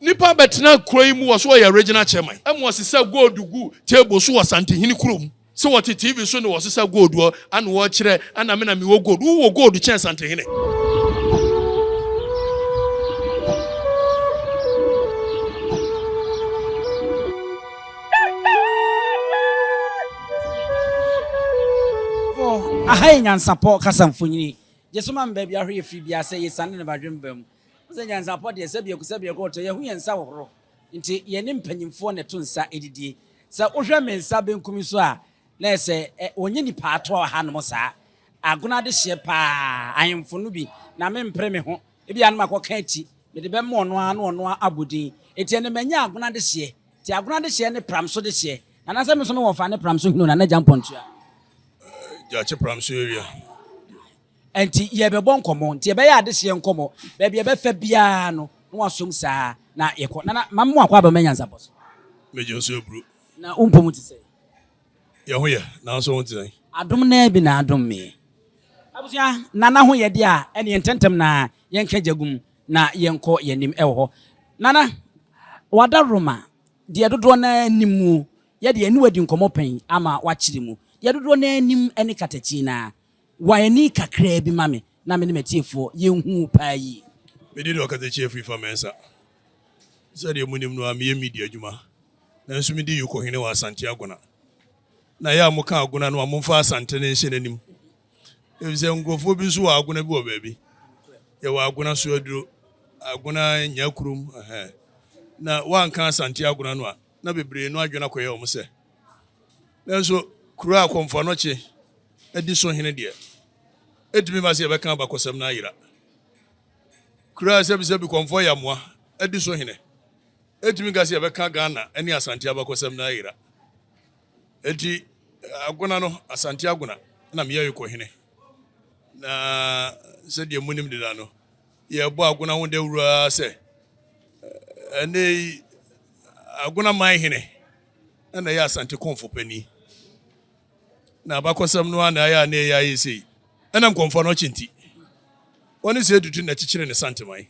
Nnipa bɛtenaa kuro yi mu wɔ so wɔyɛ Regional Chairman ma wɔsesa gold gu table so wɔ Asantehene kurom sɛ wɔte TV so ne wɔsesa gold hɔ ana wɔkyerɛ ana me na mewɔ gold wo wɔ gold kyɛn Asantehene. Aha yɛ nyansapɔ kasa mfonini. Gye so ma me baabi ahorow yɛ firi biara sɛ yɛsiane ne badwemba mu. Sɛ nyansapɔ deɛ, sɛ biako sɛ biako ɔtɔ, yɛho yɛn nsa hohoro, nti yɛne mpanyimfoɔ na ɛto nsa didie. Sɛ wohwɛ me nsa benkum yi so a, na ayɛ sɛ wɔnyɛ nnipa ato wɔ hanom saa. Agono adehyeɛ pa ara, ahemfo no bi, na mempere me ho, ebia na makɔka akyi, mede bɛma ɔno ara na ɔno ara abɔ din. Enti ɛnnɛ manya agono adehyeɛ, nti agono adehyeɛ ne Pramso dehyeɛ. Nana sɛ me nso mewɔ fa ne Pramso hene o, Nana Gya Mpɔntua. Gyakye Pramso area. Ɛnti yɛrebɛbɔ nkɔmmɔ, nti yɛbɛyɛ adehyeɛ nkɔmmɔ, baabi a ɛbɛfɛ biara no na wasom saa na yɛkɔ. Nana, ma mo akwaaba mma nyansapɔ so. Me gye nso aburo. Na wo mpom te sɛn? Yɛn ho yɛ, nanso wo ho te sɛn? Adom no ara bi na adom me. Abusua, Nana ho yɛ deɛ a, ɛneɛ ntɛntɛm no ara yɛnka gya gu mu na yɛnkɔ yɛn anim wɔ hɔ. Nana, wada Roma, deɛ dodoɔ no ara nim mu, yɛdeɛ yɛne wo adi nkɔmmɔ pɛn ama woakyere mu, deɛ dodoɔ no ara nim ne katakyii no ara, Wa ani kakraa bi ma me na me ne m'atiefoɔ yɛnhu wo paa yie. Me din ne Ɔkasakyiɛ Afrifa Mensah. Sɛdeɛ mo nim no ara, me yɛ media adwuma, nanso me di Yoko hene wɔ Asante Agona. Na yɛ a mo ka Agona no a, mo mfa Asante no nhyɛ n'anim, efisɛ nkurɔfoɔ bi nso wɔ Agona bi wɔ baabi. Yɛ wɔ Agona so aduro, Agona Nyakurom, ɛhɛɛ. Na woanka Asante Agona no a, na bebree no adwene akɔyɛ wɔn sɛ. Nanso kuro a akɔmfo anɔkye adi so hene deɛ, ɛtumi ba sɛ yɛbɛka abakɔsɛm no ayera. Kuro a sɛbisɛbi kɔmfoɔ yɛ amoa adi so hene, ɛtumi ka sɛ yɛbɛka Ghana ne Asante abakɔsɛm no ayera. Enti Agona no, Asante Agona na meyɛe kɔhene, na sɛdeɛ monim deda no, Yɛrebɔ Agona ho dawuru ara sɛ ɛnnɛyi Agona man hene na ɛyɛ Asante kɔmfo panin. Na abakɔsɛm no ara na ayɛ a na ɛyɛ ayɛ sei. Ɛnam kɔmfo anɔkye nti, wɔne sɛ dudu na ɛkyekyere ne santeman.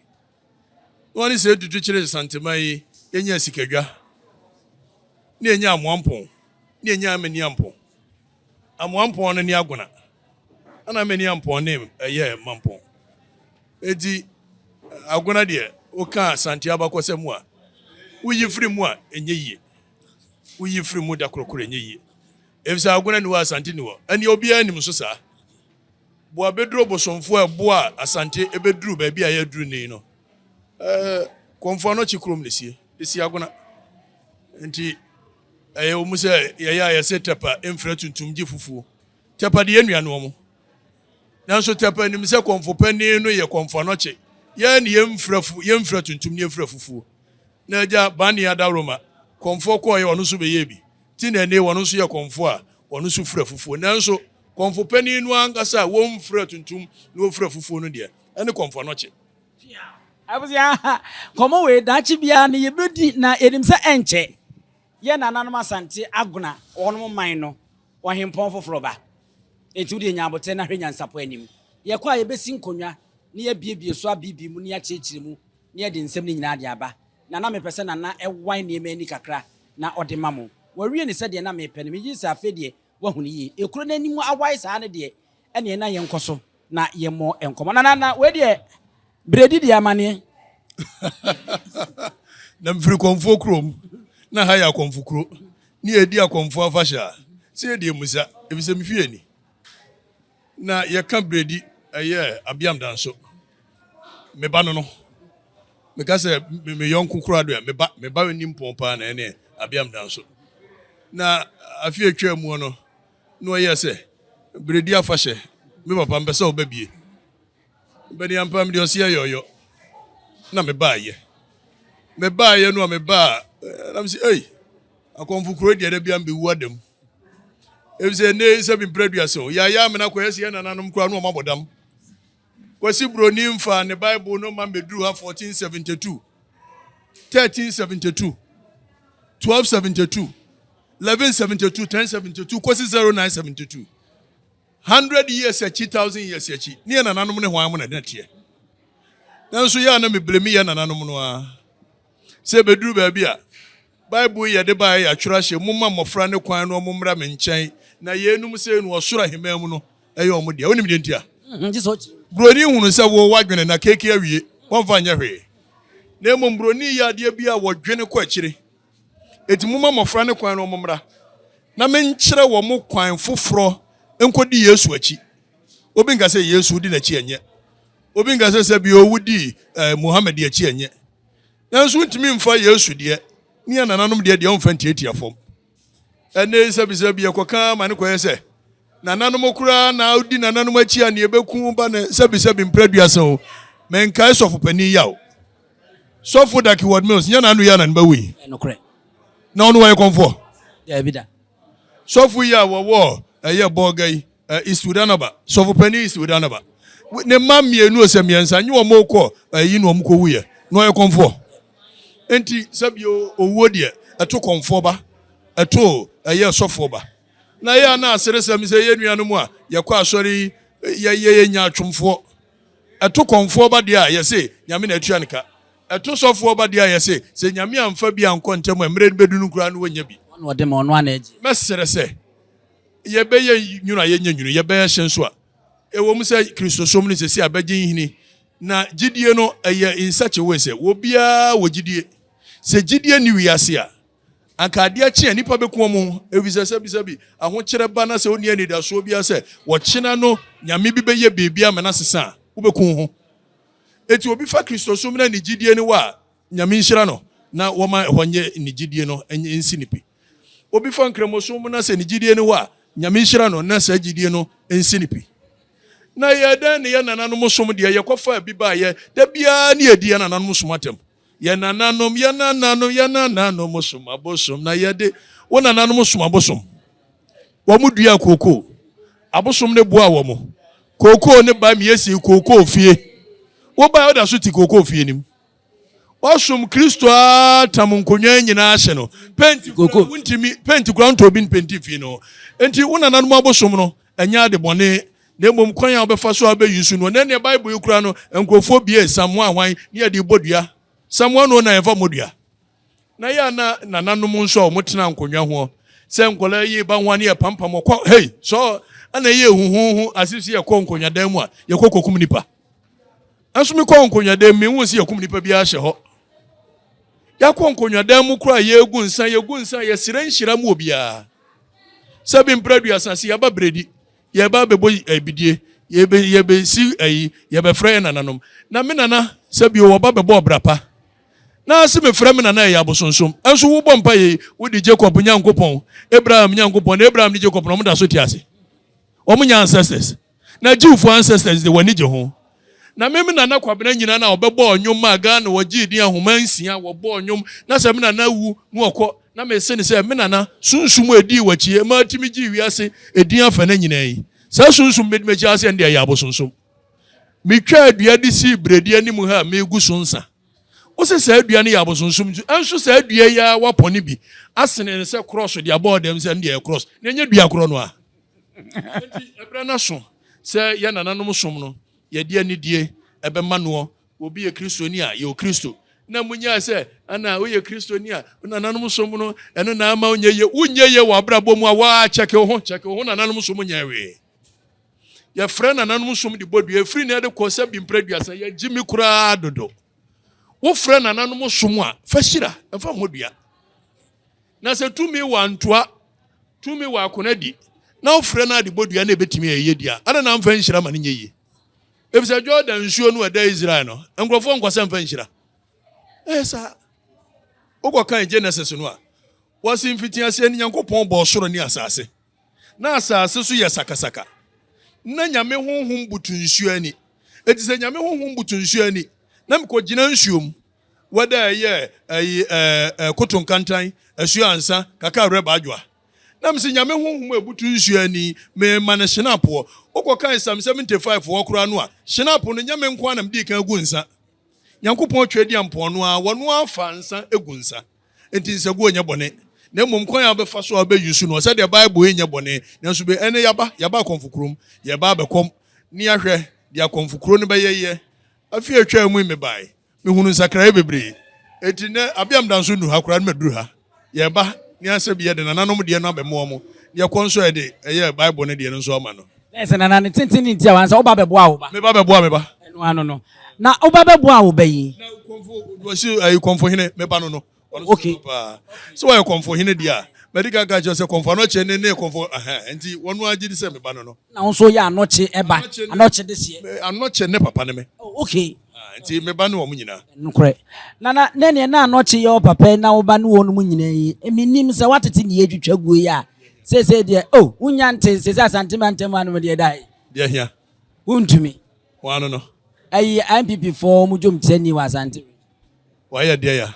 Na wɔne sɛ dudu kyere santeman yi, yɛnya asikadwa, na yɛnya amoampɔn, na yɛnya amaniampɔn. Amoa mpɔn no ne Agona. Ana mani ampɔn ne ɛyɛ mampɔn. Enti Agona deɛ woka Asante abakɔsɛ mu a, woyi firi mu a ɛnyɛ yie. Woyi firi mu da korokoro ɛnyɛ yie. Efisɛ Agona ni hɔ Asante ni hɔ. Ɛneɛ obiara nim so saa. Boa bɛduro bosomfoɔ a ɛboa Asante ɛbɛduru baabi a yɛaduru nei no, eh, Kɔmfoanɔkye kurom na sie, de si Agona. Enti Ɛyɛ mu sɛ yɛyɛ a yɛse Tɛpa mfrɛ tuntum gye fufuo. Tɛpa de yɛ nua ne wɔn. Nanso Tɛpa nim sɛ kɔmfo panin no yɛ kɔmfo anɔkye. Yɛn ne yɛmfrɛ fu, yɛmfrɛ tuntum ne yɛmfrɛ fufuo. Na agya Bani Adaworoma, kɔmfoɔ kɔɔyɛ ɔno nso bɛyɛɛ bi. Ti na ɛnee wɔn nso yɛ kɔmfo a wɔn nso frɛ fufuo. Nanso kɔmfo panin no ankasa a wɔmfrɛ tuntum na wɔfrɛ fufuo no deɛ, ɛne kɔmfo anɔkye. Abusua, nkɔmmɔ wei daakye biara no yɛbɛdi na yɛnim sɛ ɛnkyɛ yɛn nananom Asante Agona wɔnom man no ɔhempɔn foforɔ ba. Enti wodeɛ nya aboterɛ na hwɛ nyansapɔ anim. Yɛkɔ a yɛbɛsi nkonnwa na yɛabiebie so abiibii mu na yɛakyerɛkyerɛ mu na yɛde nsɛm no nyinaa de aba. Nana mepɛ sɛ Nana wae nneɛma ani kakra na ɔde ma mo. Wawie no sɛdeɛ na mepɛ no. Megye di sɛ afei deɛ Woahu no yie. Ekuro no anim awae saa no deɛ, ɛneɛ na yɛnkɔ so na yɛmmɔ nkɔmmɔ. Nana, na wei deɛ, Beredi deɛ amaneɛ? na mefiri kɔmfoɔ kurom, na ha yɛ akɔmfo kuro, ne yɛredi akɔmfoɔ afahyɛ a, sɛ yɛde amusa, ɛfiri sɛ me fie ni. Na yɛka beredi, ɛyɛ abiam da nso. Me ba no no. Meka sɛ me yɔnko koraa do ɛ, me ba, me ba ni mpɔn paa na ɛne abiam da nso. Na afi atwa mu no, na ɔyɛ sɛ beredi afahyɛ, me papa mpɛ sɛ ɔba bie. Bɛni ampa mede ɔseɛ yɔyɔ na me baayɛ. Me baayɛ no a me baa, eh, nam sɛ, ei, akɔmfo kuro deɛ da biam bɛwu adamu. ebi sɛ ɛnɛ sɛ bi mpere aduasa o yɛayɛ amena kɔ yɛsɛ yɛ nananom koraa no wɔn abɔdam kwasi buroni nfa ne bible no ma mmɛduru ha 1472 1372 1272 1172 1072 kwasi 0972 100 years akyi 1000 years akyi ne yɛ nananom ne hwan mo na ɛdɛteɛ nanso yɛ a na mebrɛ mi yɛ nananom no a Sɛ ebeduru baabi a, Bible yi yɛde baeɛ yɛatwerɛ ahyɛ mu, Momma mmɔfra no kwan na wɔmmra me nkyɛn, na yeinom sei no ɔsoro ahemman mu no yɛ wɔn dea. Wonim deɛ nti a? Buroni hunu sɛ wo, woadwene na keekee awie, wɔmfa nyɛ hwee. Na mmom buroni yɛ adeɛ bi a wɔdwene kɔ akyire. Enti momma mmɔfra no kwan na wɔmmra, na menkyerɛ wɔn kwan foforɔ nkɔdi Yesu akyi. Obi nka sɛ, Yesu, wodi n'akyi, ɛnyɛ. Obi nka sɛ, Sɛbi o, wodi eh, Muhammad akyi, ɛnyɛ. Nanso wontumi mfa Yesu deɛ ne yɛn nananom deɛ deɛ wɔmfa ntiatia fam. Ɛnna yi sɛbisɛ bi yɛkɔka ma ne kɔyɛ sɛ nananom koraa na wodi nananom akyi a ne yɛbɛku ba ne sɛbisɛ bi mpere aduasa o. Menkae sɔfo panin yaw. Sɔfo Daki Ward Mills nyɛ n'ano yɛ na ne ba wui. Na ɔno wɔyɛ kɔmfoɔ. Daabi da. Sɔfo yi a wɔwɔ ɛyɛ Bolga yi, Iswidanaba, sɔfopanyin Iswidanaba, ne mma mmienu ɔsɛ mmiɛnsa, nye wɔn kɔ ɛyi na wɔn kɔ wu yɛ, na ɔyɛ kɔnfoɔ. Nti sɛbi owuo deɛ, ɛto kɔnfoɔ ba, ɛto ɛyɛ sɔfoɔ ba. Na yɛ a na aseresɛm sɛ yɛ nuanom a yɛkɔ asɔre yi, yɛ yɛ yɛ nya atwomfoɔ. Ɛto kɔmfoɔ ba deɛ a, yɛse, Nyame na atua no ka. Ɛto sɔfoɔ ba deɛ a, yɛse, sɛ Nyame amfa bi ankɔ ntɛm a, mmerɛ no bɛdunu koraa no wɔnnya bi. Ɔno na ɔde ma, ɔno ara na ɛgye. Mɛsrɛ sɛ, yɛbɛyɛ nwunu a yɛnyɛ nwunu, yɛbɛyɛ hye nso a, ɛwom sɛ Kristosom no seesei abɛgye nhini, na gyidie no, ɛyɛ in such a way sɛ, obiara wɔ gyidie. Sɛ gyidie nni wiase a, Anka ade akye a nnipa beku wɔn ho, efisɛ sɛbisɛbi, ahokyerɛ ba na sɛ wonni anidaso biara sɛ ɔkyena no nyame bi bɛyɛ biribi ama no asesa a, wobeku wo ho. Enti obi fa Kristosom na ne gyidie no wɔ a, Nyame nhyira no na wɔma ɛhɔ nyɛ ne gyidie no nsi no pi. Obi fa Nkramosom na sɛ ne gyidie no wɔ a, Nyame nhyira no na saa gyidie no nsi no pi. Na ɛyɛɛ dɛn ne yɛn nananom som deɛ? Yɛkɔfaa bi baeɛ. Da biara ne yɛdi yɛn nananom som atɛm. Yɛn nananom, yɛn nananom, yɛn nananom som abosom, na yɛde wo nananom som abosom. Wɔn dua kookoo, abosom ne boa wɔn. Kookoo ne ba mie si kookoo fie. Wo ba ɔda so ti kookoo fie nim. Wɔsom Kristo a tam nkonnwa nyinaa ase no. Penti kura wontumi, penti kura ntɔ obi mpenti fie no. Enti wo nananom abosom no, Ɛnyɛ adebɔne, na mmom kwan a wobɛfa so abeyi so no. Nnɛ nea Bible yi kura no, nkurɔfoɔ bue samoa hwan ne yɛde bɔ dua. Samoa no na yɛmfa mmɔ dua. Na yɛ a na nananom nso a wɔtena nkonnwa ho sɛ nkwadaa yi reba ho a ne yɛpampam wɔkɔ hei sɔɔ, ɛna ɛyɛ huhuhu ase sɛ yɛkɔ nkonnwadan mu a yɛkɔ kɔkum nipa. nso mekɔ nkonnwadan mu mehu sɛ yɛkum nipa biara hyɛ hɔ yɛakɔ nkonnwadan mu koraa yɛgu nsa yɛgu nsa yɛsrɛ nhyira mu obiara sɛ bi mpere aduasa se yɛba beredi yɛba bɛbɔ abidie yɛbɛsi ayi yɛbɛfrɛ yɛ nananom na me nana sɛ bi wɔba bɛbɔ ɔbra pa na se mefrɛ me nana ɛyɛ abosonsom nso wobɔ mpa yei wode jacob nyankopɔn abraham nyankopɔn na abraham ne jacob na ɔmo da so te ase ɔmo nya ancestors Na Jewfoɔ ancestors de wɔn ani gye ho. Na me me Nana Kwabena nyina na ɔbɛbɔɔ nnwom maa Ghana wɔgyee din ahoma nsia wɔbɔɔ nnwom na sɛ me Nana awu na ɔkɔ na mese no sɛ me Nana sunsum a ɛdii wakyi ɛma atumi gyee wiase ɛdin afɛnɛ nyinaa yi saa sunsum mede makyi ase ɛnde ɛyɛ abosonsom metwaa dua de sii berɛdi anim ha a megu so nsa wo sɛ saa dua no yɛ abosonsom nti ɛnso saa dua yi ara wapɔne bi asene no sɛ krɔs de abɔɔ dɛm sɛ ɛnde ɛyɛ krɔs na ɛnyɛ dua korɔ no a Enti ɛberɛ no aso sɛ yɛn nananom som no yɛde anidie bɛma noɔ. Obi yɛ Kristoni a, yɛwɔ Kristo. Na monyae sɛ ana woyɛ Kristoni a, wo nananom som no, ɛno na ama wonyɛ yie. Wonyɛ yie wɔ abrabɔ mu a, waa kyɛke wo ho, kyɛke wo ho, nananom som nyɛɛ wee. Yɛfrɛ nananom som de bɔ dua, ɛfiri nnɛ de kɔ sɛ bi mprɛ aduasa, yɛgye mi koraa dodo. Wofrɛ nananom som a, fa hyira, mfa mmɔ dua. Na sɛ tumi wɔ a, ntoa. tumi wɔ akona di na ɔfrɛ no adebɔdua na ɛbɛtumi a ɛyɛ di a, adɛn na amfa nhyira ma no nyɛ yie? Efisɛ Jordan nsuo no a ɛda Israel no, nkurɔfoɔ nkɔ sɛ mfa nhyira. Ɛyɛ saa. Wokɔkan Genesis no a, wɔse mfitiaseɛ no Nyankopɔn bɔɔ soro ne asase. Na asase so yɛ sakasaka. Na Nyame honhom butu nsuo ani. Enti sɛ Nyame honhom butu nsuo ani, na mekɔgyina nsuo mu, wɛda a ɛyɛ ayi ɛɛ ɛɛ koto nkantan, asuo ansa, kaka awerɛ ba adwoa. Na mese Nyame honhom a ɛbutu nsuo ani, me ma no hyene apoɔ. Wokɔ kae Psalm 75 foɔ koraa no a, hyene apo no nyɛ me nko ara na mede kan gu nsa. Nyankopɔn twa dua mpoano ara, wɔno ara fa nsa gu nsa. Enti nsaguo nyɛ bɔne. Na mmom kwan a wobɛfa so a wobɛ use no, ɔsɛ deɛ Bible yi nyɛ bɔne. Nanso be ɛnɛ yɛaba, yɛaba akɔmfo kurom, yɛreba abɛkɔm. Nea hwɛ, deɛ akɔmfo kuro no bɛyɛ yɛ. Afe a ɛtwaa mu yi mebae, Mehunu nsakraeɛ bebree. Enti nnɛ, abea meda nso nnu ha koraa na maduru ha. Yɛba ne asɛ bi yɛ de nananom deɛ no abɛmo wɔn, ne yɛkɔ nso a yɛde ɛyɛ Bible no deɛ no nso ama no. Bɛyɛ sɛ nana ne tenten ne nti a wansa woba bɛboa wo ba. Me ba bɛboa me ba. Ɛno ano no. Na woba bɛboa wo ba yi. Na kɔmfo, wɔsi ayi kɔmfohene, me ba no no. Okay. So why konfo hene dia? Medi kan ka kyerɛ sɛ konfo anɔkye ne ne konfo aha nti wɔn agye di sɛ me ba no no. Na nso yɛ anɔkye ɛba. Anɔkye de seɛ. Anɔkye ne papa ne me. Oh, okay. Ah, nti me ba ne wɔn nyinaa. Nokorɛ. Na na ne neɛ na anɔkye yɛ ɔpapa na wo ba ne wɔn mu nyinaa yi. Emi nim sɛ watete ne yɛtwitwa guo yi a. Seesei deɛ, oh, wonya nte seesei asante ma ntam anom deɛ da yi. Deɛ hia. Wontumi. Wɔn ano no. Ayi, NPP foɔ wɔn dwomkyerɛni wɔ asante. Wayɛ deɛ ya.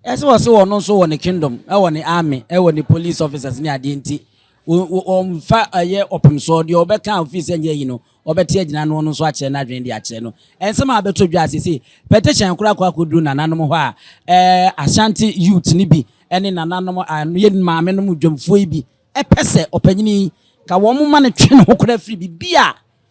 Ɛsɛ wɔ se ɔno nso wɔ ne kingdom ɛwɔ ne army ɛwɔ ne police officers ne adeɛ nti ɔmfa ɛyɛ ɔpem soɔ deɛ ɔbɛka a ɔfii sɛ nyɛ yi no ɔbɛte agyina no ɔno nso akyerɛ no adwene de akyerɛ no ɛnsɛm a abɛtɔ dwa sese petition kora kɔ akɔduru nananom hɔ a ɛɛ Ashanti youth ne bi ɛne nananom a yɛ maame nom dwamfoɔ yi bi ɛpɛ sɛ ɔpanyini yi ka wɔn ma no twe ne ho kora firi bibi a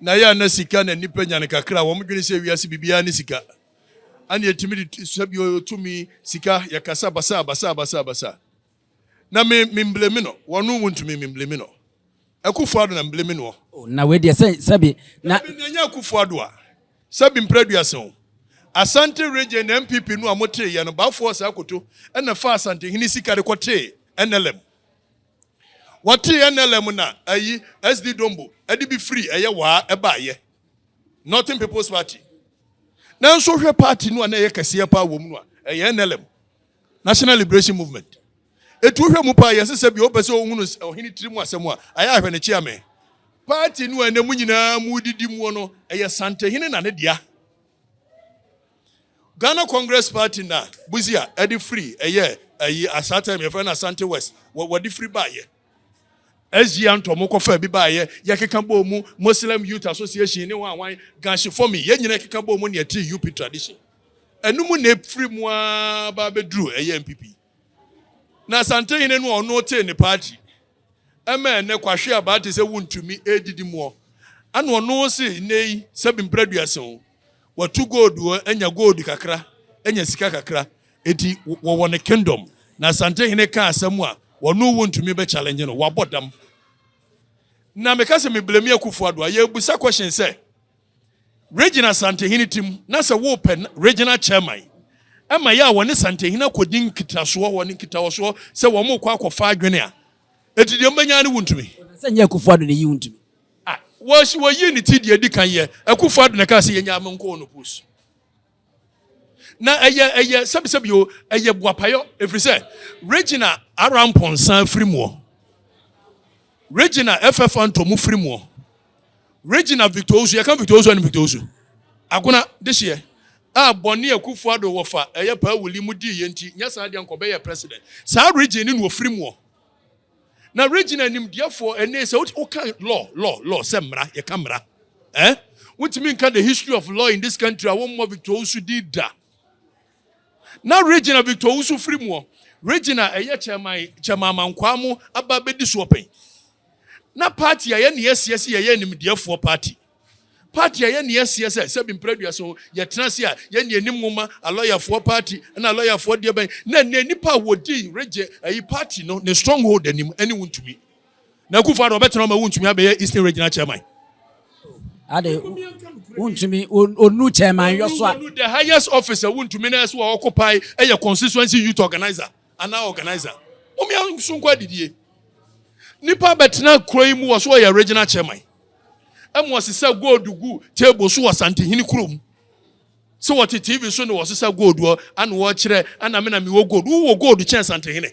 Na yɛ a na sika na nnipa nya no kakra a, wɔdwene sɛ wiase biribiara ne sika. Ɛne ɛtumi de t- sɛ bi ɔyɛ tumi, sika, yɛkasa basaa basaa basaa basaa. Na me memblemi no, wɔno wontumi memblemi no. Akufo Addo na meblemi noɔ. Oh, na wei deɛ sɛ sɛbi na. Dabi, na ɛnyɛ Akufo Addo a. Sɛbi mpra aduasa o. Asante Region na NPP no a moteeɛ no, Baffour Asakoto na faa Asantehene sika de kɔtee NLM. Wɔtee NLM na ayi SD Dombo de bi firi ɛyɛ waa ɛbaeɛ, Northern People's Party. Nanso hwɛ party no a na ɛyɛ kɛseɛ paa wɔ mu no a, ɛyɛ NLM, National Liberation Movement. Etu hwɛ mu paa yɛ sɛ sɛ bi wopɛ sɛ ohunu ɔhene tiri mu asɛm a, ayɛ ahwɛ ne kyeame. Party no a ɛnɛ mu nyinaa mu didi muo no, ɛyɛ Santehene na ne dea. Ghana Congress Party na Busia ɛde firi ɛyɛ ayi asaa time yɛfrɛ no Asante West wɔ wɔde firi baayɛ. SG Antɔ ɔmo kɔfa bi baayɛ yɛkeka bɔɔ mu Muslim Youth Association ne wɔn wɔn Gashi Fomi yɛn nyina yɛkeka bɔɔ mu ne yɛte UP tradition ɛno mu na efiri mu aa ba abɛduru ɛyɛ NPP na Asante hene no ɔno tee ne party ɛmɛ ɛnɛ kwahwe abaa te sɛ wuntumi ɛdidi muɔ ɛna ɔno se nnɛ yi sɛbi mprɛduasen o Watu gold wɔ anya gold kakra anya sika kakra eti wɔwɔ ne kingdom na asante hene ka asɛm a wɔno wo ntumi bɛ challenge no wabɔ dam na meka sɛ me blame akufo ado a yɛbusa question sɛ region asante hene tim na sɛ wo pɛ regional chairman ɛma yɛ a wɔne sante hene akɔdi nkitasoɔ wɔ ne nkitaɔsoɔ sɛ wɔn kɔ akɔfa adwene a eti deɛ mbɛnya ne wo ntumi sɛ nyɛ akufo ado ne yi wo ntumi Ah wɔsi wɔyii ne ti deɛ edi kan yɛ Akufo Addo na ɛkaa sɛ yɛnya ama nkɔɔ no post na ɛyɛ ɛyɛ sɛbisɛbi o ɛyɛ boapayɔ efiri sɛ Regina Arampɔnsa firi muɔ Regina FF Antɔmu firi muɔ Regina Victor Osu yɛka Victor Osu ɛne Victor Osu agona de hyeɛ a bɔne Akufo Addo wɔfa ɛyɛ paa wuli mu dii yɛ nti nyɛ saa deɛ nkɔbɛyɛ president saa region ne na ofiri muɔ Na Regina nimdeɛfoɔ ɛnee sɛ woka law law law sɛ mmara yɛka mmara eh wontumi nka the history of law in this country a wɔmmɔ Victor Owusu din da na Regina Victor Owusu firi muɔ Regina ɛyɛ chairman chairman amankwaa mo aba bɛdi soɔ pɛn na party a yɛne yɛsiasi yɛyɛ nimdeɛfoɔ party Paati a yɛne asie sɛ sɛbi mpere aduasa o, yɛtena ase a yɛne anim nwoma, alɔyafoɔ paati ne alɔyafoɔ deɛ bɛn na ɛnɛ nnipa a wɔdi regye ayi paati no ne stronghold anim ɛne wo ntumi. Na Akufo Addo ɔbɛtena ɔma wo ntumi abɛyɛ Eastern Regional Chairman. Ade wo ntumi onu chairman yɔ so a. The highest officer wo ntumi na ɛso a ɔkopae ɛyɛ constituency youth organizer. Anaa organiser mom yɛ nso nkɔ adidie nipa bɛtena kuro yi mu wɔ so ɔyɛ original chairman ɛmu wɔ sisa gold gu table so wɔ santehini kuro mu sɛ wɔte tv so na wɔ sisa gold wɔ ana wɔkyerɛ ana me na me wɔ gold wowɔ gold kyɛn santehini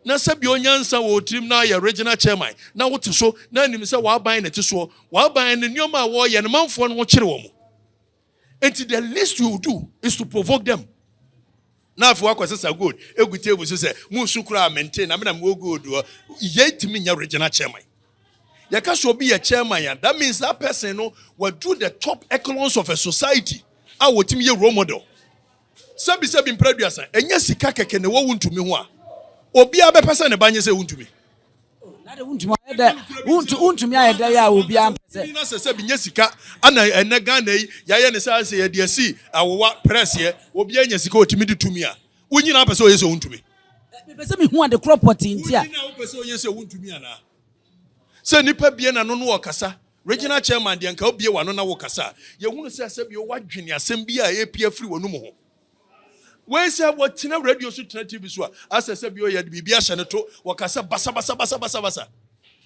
na sɛ bi onyansa wɔ tirim na yɛ original chairman na wote so na anim sɛ wɔaban na ti soɔ wɔaban ne nneɛma a wɔyɛ no manfoɔ no ho kyere wɔn Enti the least you do is to provoke them. Na afei wakɔsesa gold egu table so sɛ munsu koraa mente na me na mewɔ gold hɔ. Yei tumi nyɛ regional chairman. Yɛka sɛ obi yɛ chairman a, that means that person no wadu the top echelons of a society a wɔtumi yɛ role model. Sɛbisɛbi mpra aduasa, ɛnyɛ sika kɛkɛ na ɛwɔ wo ntumi ho a obiara bɛpɛ sɛ ne ba nyɛ sɛ wontumi. Wontumi ayɛ dɛ yɛ a obiara mpɛ sɛ. Na sɛ sɛbi nyɛ sika ana ɛnɛ Ghana yi yɛayɛ ne saa sɛ yɛde asi awowa prɛseɛ obiara nya sika ɔtumi de tumi a wo nyina apɛ sɛ ɔyɛ sɛ wontumi. Mepɛ sɛ mehu ade korɔ pɔtee nti a. Wo nyina wopɛ sɛ ɔyɛ sɛ wontumi anaa? Sɛ nipa bie na no no ɔkasa Regional Chairman deɛ nka wobue w'ano na wokasa a yɛhunu sɛ sɛbio woadwene asɛm bi a ɛrepue afiri w'anum ho. Wei sɛ wɔtena radio so tena TV so a asɛ sɛbio yɛde biribi ahyɛ no to wɔkasa basabasabasabasabasa.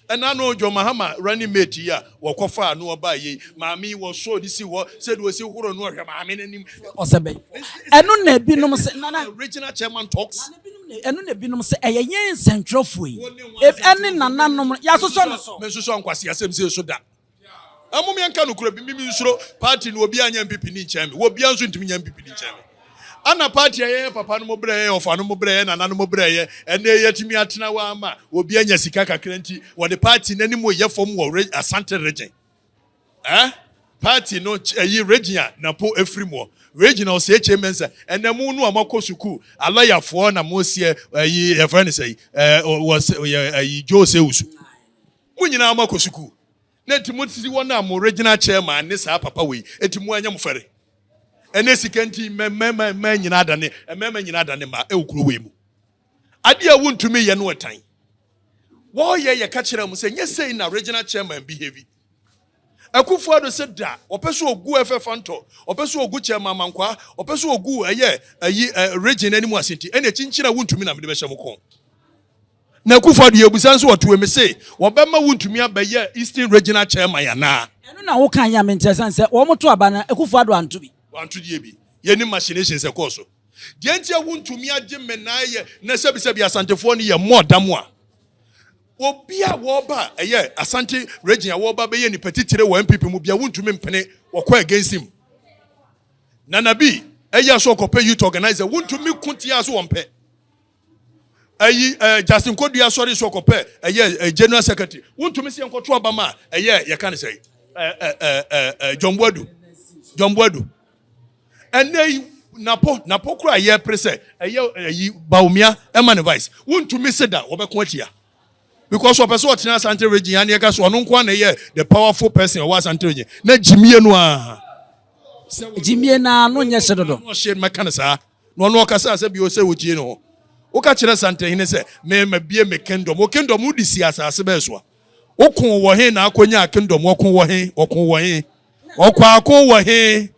Ɛna no John Mahama running mate yi a wɔkɔfaa no ɔbaa yei maame yi wɔsɔɔ de sii hɔ sɛdeɛ ɔsi horo no ɔhwɛ maame no anim. Ɔsɛ bɛn? Ɛno na ebinom se nana. Regional Chairman talks. Ɛno na ebinom sɛ ɛyɛ yɛn nsɛnkyerɛwfo yi ne nananom no yɛasosɔ no so. Mensusua nkwaseasɛm sei so da. Ɛmom yɛnka nokorɛ bi, me mensuro party no, obiara nyɛ NPP ni nkyɛn me, obiara nso ntumi nyɛ NPP ni nkyɛn me. Ana party a yɛyɛ papa nom berɛ, yɛyɛ ɔfa nom berɛ, yɛyɛ nananom berɛ, yɛ ɛnnɛ yɛatumi atena hɔ ama obi anya sika kakra nti wɔde party no animu reyɛ fam wɔ Asante Region? Eh party no ɛyi Regina na po efiri muɔ Regina ɔsɛ HA Mensa ɛnɛ mu no a moakɔ sukuu alɔya foɔ na moseɛ ɛyi yɛfrɛ no sɛyi ɛɛ wɔsɛ yɛ ɛyi Joe sɛ usu mo nyinaa moakɔ sukuu na eti mo si wɔn a mo Regina chairman ne saa papa wei eti mo anya mo fɛre ɛnɛ sika nti mɛmɛmɛmɛ nyinaa adane mɛmɛ nyinaa adane ma ɛwɔ kuro wei mu. Ade a wontumi nyɛ no tan. Wɔyɛ yɛka kyerɛ mo sɛ nyɛ sei na regional chairman bi heavy Akufo Addo sɛ da ɔpɛ so ogu FF Antɔ ɔpɛ so ogu chairman Amankwaa ɔpɛ so ogu ɛyɛ ayi region anim ase nti ɛna kyinkyini a wontumi na mede bɛhyɛ mo kɔn na Akufo Addo yɛ busa nso ɔtoe me se wɔbɛma wontumi abɛyɛ Eastern Regional Chairman anaa ɛno na woka yɛ a menteɛ sane sɛ wɔn to aba na Akufo Addo anto bi. Wanto deɛ bi yɛnim machinations ɛkɔɔ so. Deɛ nti a wontumi agye mmenae yɛ na sɛbisɛbi asantefoɔ no yɛ mmɔ da mu a obi a wɔba ɛyɛ asante region a wɔba bɛyɛ nipa titire wɔ npp mu bia wontumi mpene wɔkɔ against him nana bi ɛyɛ so ɔkɔpɛ youth organizer wontumi ko tia so wɔmpɛ ɛyi ɛɛ Justin Kodua asɔre so ɔkɔpɛ ɛyɛ general secretary wontumi sɛ yɛnkɔto aba ma ɛyɛ yɛka ne sɛ ɛɛ John Boadu John Boadu ɛnɛ yi napo napo kora a yɛpere sɛ ɛyɛ ɛyi Bawumia ɛma ne vice wontumi se da wɔbɛko atia because ɔpɛ sɛ ɔtena Asante region ya ne yɛka so ɔno nko na ɛyɛ the powerful person ɔwɔ Asante region na gyimie no a gyimie no a no nyɛ hye dodo ɔhye mɛka ne saa Na ɔno ɔkasaa sɛ bio sɛ ogyee no hɔ. Woka kyerɛ Santahene sɛ, Me, mabue me kingdom. Wo kingdom wode sii asase bɛɛ soa. Wokoo wɔ he na akonyaa kingdom? Ɔko wɔ he? Ɔko wɔ he? Ɔkwaako wɔ he?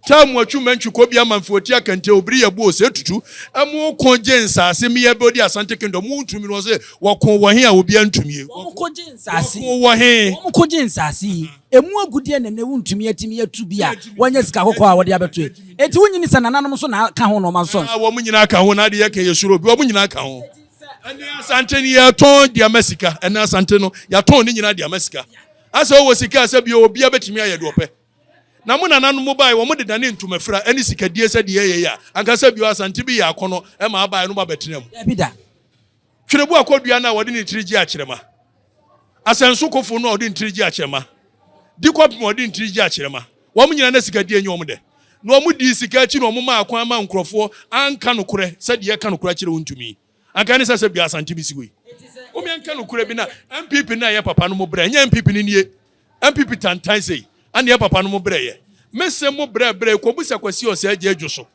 Taa mu atwu mantwi kɔ bi ama mfe ɔti akante obiri yɛ bo ose tutu ɛmo ɔko gye nsase me yɛ bɛ odi asante kingdom wo ntumi no ɔse wɔko wɔ he a obi antumie wɔko gye nsase wɔko wɔ he wɔko gye nsase yi. Emu agudeɛ na ɛnnɛ wontumi atumi atu bi a wɔnyɛ sika kɔkɔɔ a wɔde abɛto ɛ. Enti wonnye nni sɛ nananom nso na ka ho na wɔma nsɔ nso? Wɔn nyinaa ka ho, na ade yɛka yɛ suro bi. Wɔn nyinaa ka ho. Ɛnnɛ Asante no yɛtɔn de ama sika. Ɛnnɛ Asante no yɛatɔn ne nyinaa de ama sika. Asɛ wowɔ sika a sɛ bio obiara bɛtumi ayɛ deɛ ɔpɛ. Na mo nananom baeɛ wɔn de dane ntomafira ne sikadie sɛdeɛ ɛyɛ yɛ a anka sɛ bio Asante bi yɛ akɔnɔ ma abaeɛ no abɛtena mu. Dabi da. Twerɛbu akɔdua no a wɔde ne tiri gye akyerɛma. Asɛnsokofo no a wɔde ne tiri gye akyerɛma. Di kɔpem a wɔde ne tiri gye akyerɛma. Wɔn nyinaa na sikadie nyɛ wɔn dɛ. Na wɔdii sika akyi na wɔmaa kwan maa nkurɔfoɔ anka nokorɛ sɛ deɛ ɛka nokorɛ akyerɛ wo ntumi. Anka ɛne sɛ sɛ bia Asante bɛsi hɔ yi. Wome nka nokorɛ bi na NPP na ɛyɛ papa no mo brɛ ɛnyɛ NPP no nie. NPP tantan sei. Ɛneɛ papa no mo brɛ yɛ. Mese mo brɛ brɛ yi kɔbusa Kwasi Ɔsɛɛ gya adwo so.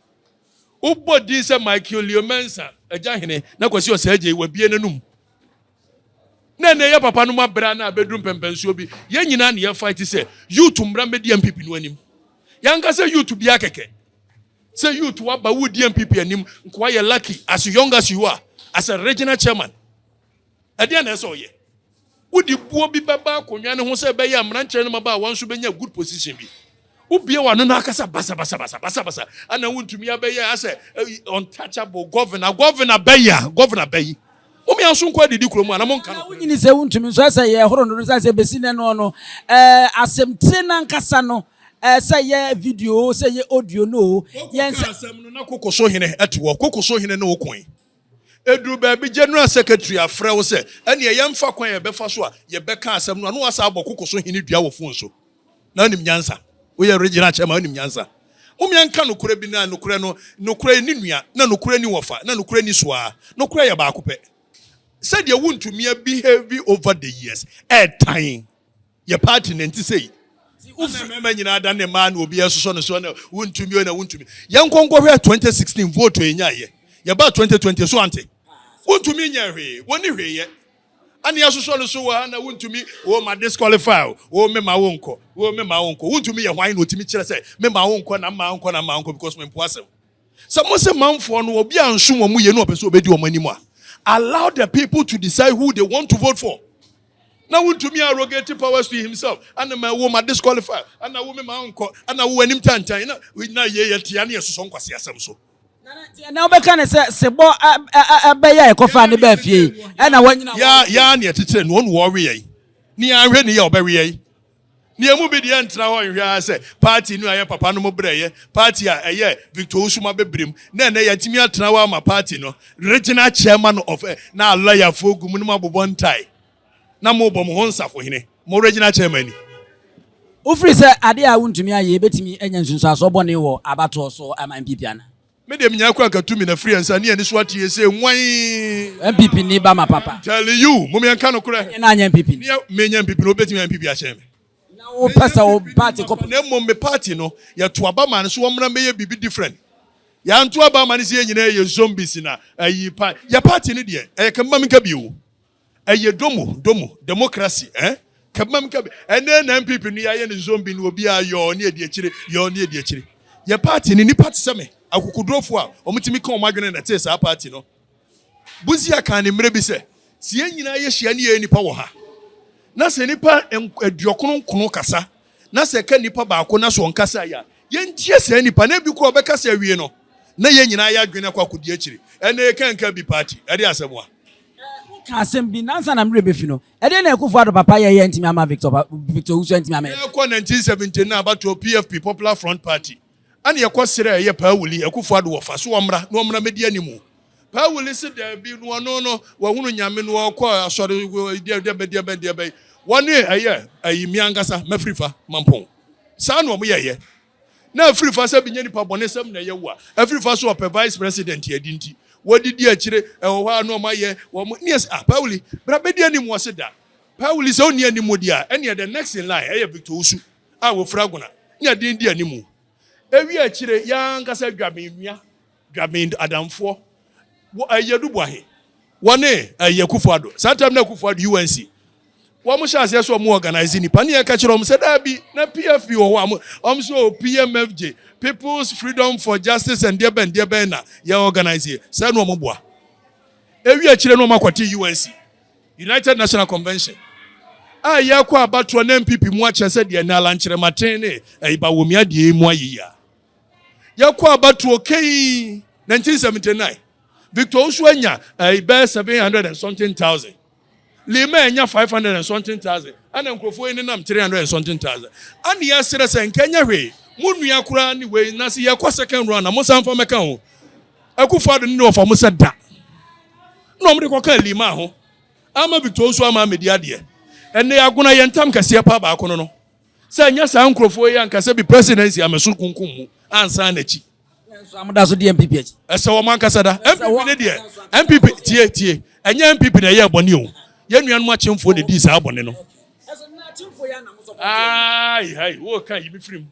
Wobɔ din sɛ Michael Leo Mensah, Agya Hene, na Kwasi Osagyei, Wabue N'anom. Na ɛnɛ yɛ papa nom abere a na abeduru mpɛmpɛnsoɔ bi. Yɛn nyinaa na yɛ fight sɛ youth mmra mmɛdi NPP no anim. Yɛanka sɛ youth biara kɛkɛ. Sɛ youth waba wodi NPP anim nkoa yɛ lucky as young as you are as a regional chairman. Ɛdeɛn na ɛsɛ ɔyɛ? Wode buo bi bɛba akonnwa no ho sɛ ɛbɛyɛ a mmeranteɛ no mmabaawa nso bɛnya good position bi. Wobie w'ano na akasa basabasabasa basabasa ana wontumi abɛyɛ asɛ untouchable governor governor bɛyi a governor bɛyi. Mom yɛn nso nkɔ adidi kurom ana monka no. Wonyini sɛ wontumi nso ɛsɛ yɛ horo no sɛ sɛ bɛsi nɛ no no asɛmtire no ankasa no sɛ yɛ video sɛ yɛ audio no yɛn sɛ. Asɛm no na kokoso hene ɛte wɔ kokoso hene ne wo koe. Eduru baabi General Secretary afrɛ wo sɛ ɛneɛ yɛmfa kwan a yɛbɛfa so a yɛbɛka asɛm no a na woasan abɔ koko so hene dua wɔ phone so. Na wonim nyansa. Woyɛ Regional Chairman wonim nyansa. Mom yɛnka nokorɛ bi na nokorɛ no, nokorɛ nni nua na nokorɛ nni wɔfa na nokorɛ nni so ara. Nokorɛ yɛ baako pɛ. Sɛdeɛ wontumi abehave over the years ɛɛtan. yɛ party na nti sei wofiri mmarima nyinaa da ne mmaa na obi ɛsosɔ no so na wontumi o na wontumi yɛn nkɔnkɔhwɛ 2016 vote yɛ nya yɛ yɛba 2020 so ante wontumi nyɛ hwee wɔni hwee yɛ ɛne ɛsosɔ no so wɔ ha na wontumi o ma disqualify o o me ma wonkɔ o me ma wonkɔ wontumi yɛ hwan na otumi kyerɛ sɛ me ma wonkɔ na mma wonkɔ na mma wonkɔ because me mpoa sɛm sɛ mo sɛ manfoɔ no obi ansom wɔn yɛ no ɔpɛ sɛ obedi wɔn anim a allow the people to decide who they want to vote for. na wontumi arrogate powers to himself ana ma ɛwo ma disqualify ana wo me ma nkɔ ana wo anim tantan na na yɛ yɛ tia ne ɛsosɔ nkwasi asɛm so na wobɛka ne sɛ sebɔ ɛbɛyɛ a ɛkɔfa ne baa fie ɛna wanyina ya ya ne ɛtetere no ɔno wɔwe yɛn ne anhwɛ ne yɛ ɔbɛwe yɛn Na yɛn mu bi deɛ ntena hɔ nhwɛ ara sɛ party no a yɛn papa nom brɛeɛ, party a ɛyɛ Victor Ousum abɛbrem, na ɛnnɛ yɛatumi atena hɔ ama party no regional chairman of ɛ, na lɔyafoɔ gu mu na moabobɔ ntae na mobɔ mo ho nsafohene, mo regional chairman ni. Wofiri sɛ adeɛ a wontumi ayɛ yɛbɛtumi anya nsunsuansoɔ bɔne wɔ abatoɔ so ama NPP anaa? Me deɛ menyaa kura nkatu mina firi ansa ne aniso ateɛ sɛ nwan. NPP ni ba ma papa. Telling you mom yɛn ka nokorɛ. Ɛnyɛ na anyɛ NPP ni. Me nyɛ NPP ni obi bɛtumi ayɛ NPP akyɛn me. Na wo pɛ sɛ wo party kɔ. Na mmom me party no yɛ to aba ma no so wɔmmra mmɛyɛ biribi different. Yɛn anto aba ama no sɛ yɛn nyinaa yɛ zombies na ayi pa yɛ party no deɛ ɛyɛ kɛmɛ ma menka bio. Ɛyɛ domo domo democracy eh kɛbmam kɛb ɛnɛ na NPP no yɛayɛ no zombie no obiaa yɔɔ ne adi akyire yɔɔ ne adi akyire yɛ party no nnipa te sɛ me akokodurofo a wɔn tumi ka wɔn adwene na ɛtee saa party no Busia kaa ne mmerɛ bi sɛ sɛ yɛn nyinaa yɛhyia ne yɛyɛ nnipa wɔ ha na sɛ nnipa aduɔkono nkono kasa na sɛ ɛka nipa baako na sɛ ɔnkasae a, yɛntie saa nipa no. Ebi koraa a ɔbɛkasa awie no, na yɛn nyinaa yɛn adwene akɔ akodi akyiri. Ɛnna yɛka a nka bi paa ti. Ɛde asɛm a. Woka asɛm bi, nansa na me werɛ befi no. Ɛdeɛn na Akufo Addo papa yɛeɛ a antumi amma Victor Victor Owusu antumi ammɛyɛ? Ɛrekɔ 1979 no abatoɔ PFP, Popular Front Party. Ɛnna yɛkɔ srɛɛ yɛ Paa Wili, Akufo Addo, wɔfa so wɔmmra na wɔmmra mmɛdi anim. Paa Wili se daabi, na ɔno no, wahunu Nyame, na ɔkɔ asɔre deɛbɛn deɛbɛn deɛbɛn. Wɔne ɛyɛ ayi, me ankasa, mafiri fa, Mampong. Saa na wɔyɛeɛ. Na afiri fa sɛ bɛnya nipa bɔne sɛm na ɛyɛ wo a, afiri fa so ɔpɛ Vice President adi nti, wɔdidi akyire, ɛwɔ hɔ a na wɔayɛ wɔn, na yɛse, ah, Paa Wili, bra bɛdi anim, ɔse da. Paa Wili sɛ ɔnni animudi a, ɛnneɛ the next in line, ɛyɛ Victor Osu. a wɔfura agona ne aden di animu. Ewie akyire yi ara ankasa Dwaben nua, Dwaben adamfoɔ, wɔ ɛyɛ Duboahe, wɔne ɛyɛ Akufo Addo, saa time no Akufo Addo, UNC, wɔn hyɛ aseɛ sɛ wɔn organize nnipa ne yɛka kyerɛ wɔn sɛ daabi na PFP wɔ hɔ a wɔn sɛ o PMFJ, People's Freedom for Justice and deɛ bɛn deɛ bɛn na yɛ organize yɛ, sɛ na wɔn boa. Ewie akyire na wɔn akɔte UNC. United National Convention a yɛkɔ abatoɔ na NPP mu akyɛ sɛ deɛ Nala Nkyerɛmaten ne ɛyi Bawumia deɛ mu ayɛ yi a. Yɛkɔ abatoɔ kei 1979 Victor Osu anya ɛyi bɛyɛ 700 and something thousand. Lima anya 500 and something thousand. Ana nkurɔfoɔ yi nenam 300 and something thousand. Ana yɛserɛ sɛ nka ɛnyɛ hwee mo nua koraa ne wei na se yɛkɔ second round a mo san fa mɛka ho. Akufo-Addo ne wɔfa mo sɛ da na wɔde kɔka Limaa ho ama Victor Osu ama amedi adeɛ. Ɛnɛ yɛagona yɛn ntam kɛseɛ paa baako no no sɛ ɛnyɛ saa nkurɔfoɔ yi anka sɛ bi presidency ameso kunkum mu ansan n'akyi. Nanso amoda so di MPP akyi. Ɛsɛ wɔn ankasa da. MPP ne deɛ MPP tie tie ɛnyɛ MPP na ɛyɛ bɔne o yɛn nuanom akyemfoɔ na ɛdii saa bɔne no. Aai hai wo ka yi me firi mu.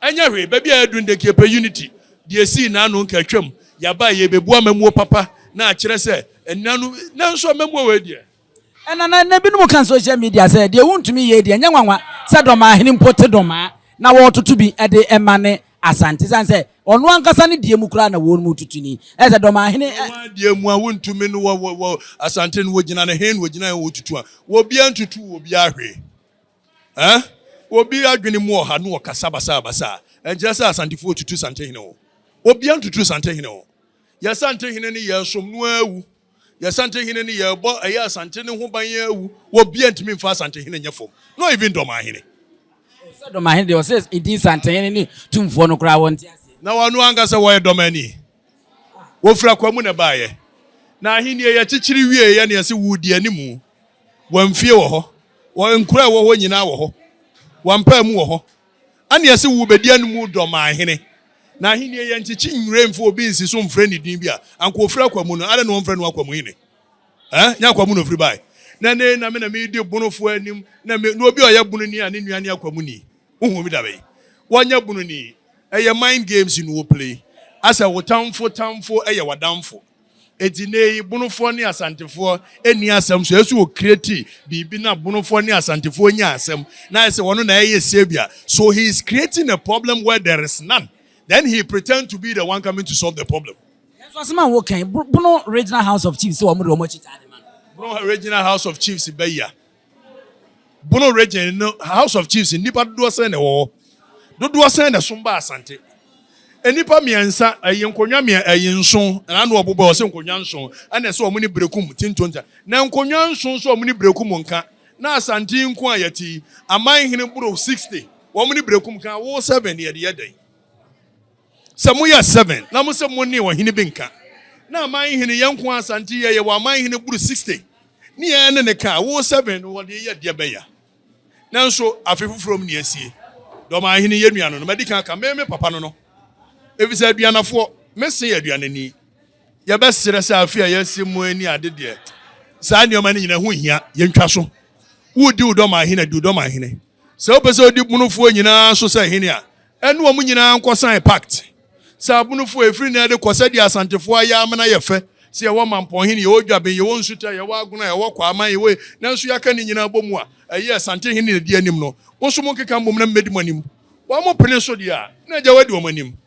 Ɛnyɛ hwee, baabi a yɛadu no dɛ, Kiepɛ Unity de esii n'ano nkaatwam, yɛaba a yɛrebɛbua amammuo papa na akyerɛ sɛ nna no, nanso amammuo wei deɛ. Ɛna na na binom ka social media sɛ deɛ wontumi yei deɛ ɛnyɛ nwanwa sɛ Dɔmaa hene mpo te Dɔmaa na wɔretoto bi de ma ne Asante sane sɛ ɔno ankasa ne deɛ mu koraa na wɔnom retutu ni. Ɛyɛ sɛ Dɔmaa hene ɛ. Wɔn deɛ mu a wontumi no wɔ wɔ wɔ Asante no wɔgyina no he na wɔgyina he wɔtutu a, obiara ntutuu obiara hwee. Ɛɛ? Obi adwene mu ɔha na ɔkasa basabasa a, ɛnkyerɛ sɛ Asantefoɔ retutu Santehene o. Obiara ntutu Santehene o. Yɛn Santehene no yɛresom no ara awu. Yɛn Santehene no yɛrebɔ ɛyɛ Asante no ho ban ara awu. Obiara ntumi mfa Asantehene nyɛ fam, not even Dɔmahene. Sɛ Dɔmahene deɛ, ɔsɛ edin Santehene ne Tumfoɔ no koraa wɔnte aseɛ. Na wɔn ankasa wɔyɛ Dɔmani. Wofiri akoa mu na ɛbaeɛ, na ahennie yɛ kyekyere wieeɛ na yɛse wodi anim. Wɔn fie wɔ hɔ, wɔn nkuro a ɛwɔ hɔ nyinaa wɔ hɔ, wɔn mpaamu wɔ hɔ, ɛna yɛse wobɛdi anim dɔ ma ahene. Na ahennie yɛ nkyekye nwura mfa obi nsi so mfrɛ ne din bi a anka ɔfiri akoa mu no, adɛn na wɔmfrɛ no akoa mu hene? Ɛɛ, nyɛ akoa mu na ɔfiri baeɛ? Na ɛnnɛ yei na me na meredi bonofoɔ anim, na me, na obi a ɔyɛ bononi a ne nua ne akoa muni. Wohu bi dabi. Wanyɛ bunu ni. Ɛyɛ mind games no wo play. Asɛ wo tamfo tamfo yɛ wadamfo. Enti nnɛ yi bonofoɔ ne asantefoɔ nni asɛm so. Ɛsɛ wo create biribi na bonofoɔ ne asantefoɔ nya asɛm na ayɛ sɛ wɔn na ɛyɛ saviour. So he is creating a problem where there is none then he pretend to be the one coming to solve the problem. Nanso asem a wo kan, Bono Regional House of Chiefs se wɔn de wɔn akyi taa de ma no. Bono Regional House of Chiefs bɛya Bono Region no House of Chiefs nnipa dodoɔ sɛn na ɛwɔ hɔ? Dodoɔ sɛn na ɛsom ba Asante? Nnipa mmiɛnsa, ɛyɛ nkonnwa mmie, ɛyɛ nson, na ano ɔbobɔ ɔsɛ nkonnwa nson, ɛna ɛsɛ wɔn ne Berekum te ntonta. Na nkonnwa nson nso wɔn ne Berekum nka, na Asante yi nko a yɛte yi, aman hene boro 60, wɔn ne Berekum ka awo 7, yɛde yɛ dɛn? Sɛ moyɛ seven na mo se mo ne ɔhene bi nka, na aman hene yɛn nko ara sa nti yɛ yɛwɔ aman hene boro sixty, ne yɛn ne ne ka a, wo seven no wɔde yɛ deɛ bɛya. Nanso afe foforɔ mu ne asie. Dɔ ɔman hene yɛ nua no no, madi kan aka, me me papa no no, efisɛ aduanafoɔ, me se yɛ aduanani. Yɛbɛsrɛ sɛ afe a yɛasi mu ani ade deɛ, saa nneɛma no nyina ho nhia, yɛntwa so. Wodi wo dɔ ɔman hene a, di wo dɔ ɔman hene. Sɛ wopɛ sɛ wodi Bonofoɔ nyinaa so sɛ hene a, ɛne wɔn nyinaa nkɔ sign pact. Sɛ Abonofoɔ, ɛfiri nnɛ de kɔ, sɛdeɛ Asantefoɔ ayɛ amena yɛ fɛ, sɛ yɛwɔ Mampɔnhene, yɛwɔ Dwaben, yɛwɔ Nsutɛ, yɛwɔ Agona, yɛwɔ Kwaaman, yɛwɔ e, nanso yɛaka ne nyinaa bɔ mu a, ɛyɛ Asantehene na ɛdi anim no. Mo nso monkeka mmom na mɛdi mo anim. Wɔpene so deɛ a, na agya wadi wɔn anim.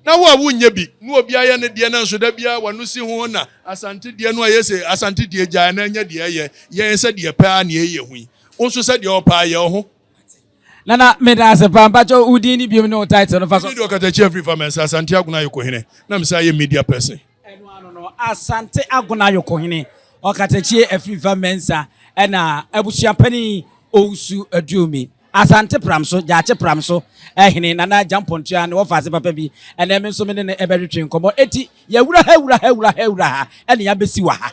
na wo a wonyɛ bi ne obi ayɛ ne deɛ nanso da biara w'ano si ho na Asante deɛ no ayɛ sei, Asante deɛ gyae na nyɛ deɛ ɛyɛ yɛn sɛdeɛ pɛ ara na yɛyɛ hu yi, wo nso sɛdeɛ wɔpɛ ara yɛ wo ho. Nana meda ase paa, mpakyɛw wo din ne biom ne wo title no fa so. Mene deɛ ɔkatakyia firi Famɛnsa, Asante Agona Ayoko Hene na mesan yɛ media person. Ɛno ano no, Asante Agona Ayokohene, Ɔkatakyie Afirifa Mensah ɛna Abusuapanin Owusu Aduomi, Asante Pram so, Gyaakye Pram so Hene Nana Agyampong Tuah ne wɔfa ase papa bi. Ɛnɛ me nso me ne no ɛbɛtwetwe nkɔmmɔ. Enti yɛwura ha wura ha wura ha wura ha ɛne abɛsi wɔ ha.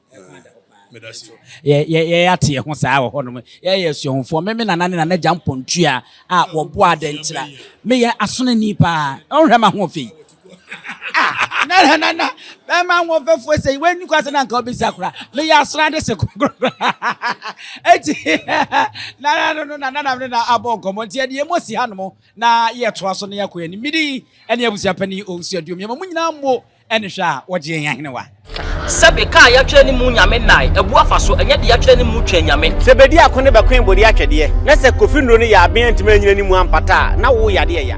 Yɛate yɛn ho saa wɔ hɔnom. Yɛyɛ suahufoɔ. Me me nana ne nana gya mpɔntua a wɔbɔ adɛnkyerɛ. Meyɛ asonani paa. Ɔnhwɛ ma ho fei. Ah, nana nana, bɛma ho fɛfoɔ sɛ w'ani kwa sɛ na nka wobɛsa kora. Meyɛ asonade se kokorokoro. Eti, nana no no na nana no na abɔ nkɔmmɔ. Nti ɛde yɛn mu asi hanom na yɛtoa so na yɛakɔ yɛn anim. Midi ɛne abusua panin Owusu Aduom. Yɛma mo nyinaa mmo. Ɛne hwɛ a wɔgye yɛn ahenewa. Sɛbe ka a yɛatwerɛ ne mu Nyame nnae abu afa so, ɛnyɛ de yɛatwerɛ ne mu Twɛn Nyame. Sɛ bɛdi ako ne bɛkoe bode atwɛdeɛ, na sɛ Kofi Nnuro no yɛ aben antumi anyina ne mu ampata a, na wo yadeɛ ya.